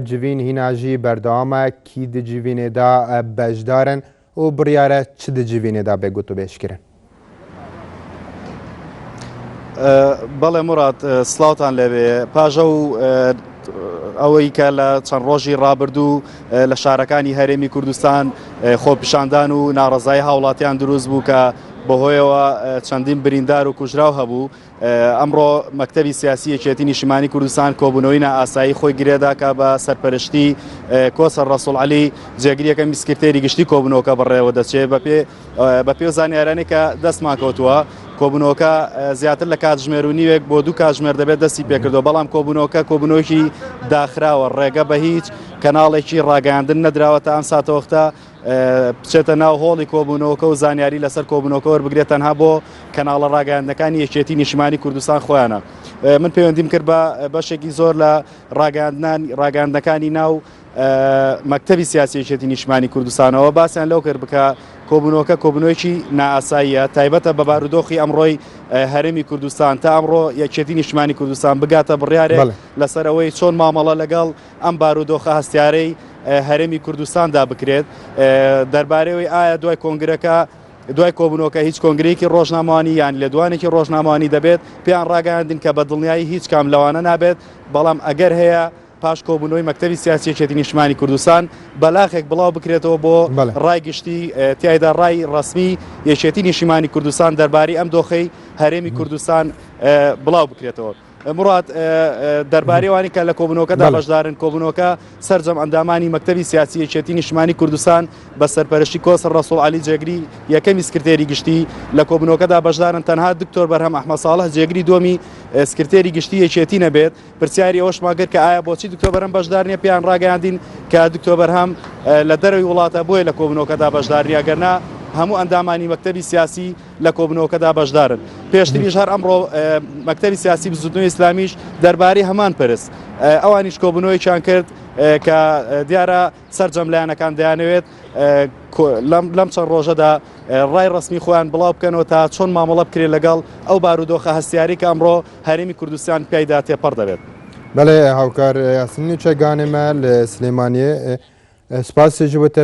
جڤین هینا ژی بەردەوامە کی دی جڤینێدا بەشدارن و بڕیارە چ دی جڤینێدا بێ گوتوبێژ کرن؟ بەڵێ مڕات سلااوان لەوێ پاژە و ئەوەی کە لە چەند ڕۆژی ڕابردوو لە شارەکانی هەرێمی کوردستان خۆپیشاندان و ناڕزای هاوڵاتیان دروست بوو کە بەهۆیەوە چەندین بریندار و کوژراو هەبوو ئەمڕۆ مەکتەبی سیاسی یەکێتی نیشتمانی کوردستان کۆبوونەوەی نائاسایی خۆی گرێداکە بە سەرپەرشتی کۆسەر ڕەسوڵ علی جێگریەکە میسکرتێری گشتی کۆبنەوەکە بەڕێوە دەچێت بەپێ بە پێ زانیارانی کە دەستمان کەوتووە کۆبنەوەکە زیاتر لە کاتژمێر و نیوێک بۆ دوو کاتژمێر دەبێت دەستی پێکردەوە بەڵام کۆبنەوەکە کۆبنەوەکی داخراوە ڕێگە بە هیچ کەناڵێکی ڕاگەاندن نەدراوە تا ئەم ساتەوەختە بچێتە ناو هۆڵی کۆبوونەوەکە و زانیاری لەسەر کۆبوونەوەکە وەربگرێت تەنها بۆ کەناڵە ڕاگەیاندنەکانی یەکێتی نیشمانی کوردستان خۆیانە من پەیوەندیم کرد بە بەشێکی زۆر لە ڕاگەاندنان ڕاگەاندنەکانی ناو مەکتتەبی سیاسیەتی نیشمانی کوردستانەوە باسیان لەو کرد بکە کۆبوونەوەکە کۆبنەوەکی ناساییە تایبەتە بە بارودۆخی ئەمڕۆی هەرمی کوردستان تا ئەمڕۆ یەکێتی نیشمانی کوردستان بگاتە بڕیارێک لەسەر ئەوەی چۆن مامەڵە لەگەڵ ئەم بارودۆخە هەستیارەی هەرێمی کوردستاندا بکرێت دەربارەوەی ئایا دوای کۆنگرەکە دوای کۆبنەوەکە هیچ کۆنگرێکی ڕۆژنامەوانی یان لێدوانێکی ڕۆژنامەوانی دەبێت پێیان ڕاگەاندن کە بە دڵنیایی هیچ کام لەوانە نابێت بەڵام ئەگەر هەیە پاش کۆبوونەوەی مەکتتەبی سیاسیەکێتی نیشتمانی کوردستان بەلاخێک بڵاو بکرێتەوە بۆ ڕای گشتی تایدا ڕای ڕسمی یەکێتی نیشیمانی کوردستان دەربارەی ئەم دۆخەی هەرێمی کوردستان بڵاو بکرێتەوە. مراد، دەربارەی ئەوانەی کە لە کۆبوونەوەکەدا بەشدارن، کۆبوونەوەکە سەرجەم ئەندامانی مەکتەبی سیاسی یەکێتیی نیشتمانیی کوردستان بە سەرپەرشتیی کۆسڕ ڕەسووڵ عەلی جێگری یەکەمی سکرتێری گشتی لە کۆبوونەوەکەدا بەشدارن، تەنها دکتۆر بەرهەم ئەحمەد ساڵح جێگری دووەمی سکرتێری گشتیی یەکێتی نەبێت. پرسیاری ئەوەشمان کرد کە ئایا بۆچی دکتۆر بەرهەم بەشدار نییە؟ پێیان ڕاگەیاندین کە دکتۆر بەرهەم لە دەرەوەی وڵاتە، بۆیە لە کۆبوونەوەکەدا بەشدار نییە، ئەگەرنا هەموو ئەندامانی مەکتەبی سیاسی لە کۆبنەوەکەدا بەشدارن پێشتریش هەر ئەمڕۆ مەکتەری سیاسی بزودنەوە ئیسلامیش دەربارەی هەمان پرس ئەوانیش کۆبنەوەیان کرد کە دیارە سرجەم لایەنەکان دەیانەوێت لەم چەند ڕۆژەدا ڕای ڕسمی خۆیان بڵاو بکەنەوە تا چۆن مامەڵە بکرێت لەگەڵ ئەو بارودۆخە هەستیاری کە ئەمڕۆ هەرمی کوردستان پیایدا تێپەڕ دەبێت بەڵێ هاوکار یاسنی چەگانێمە لە سلێمانیە سپاسی جوتە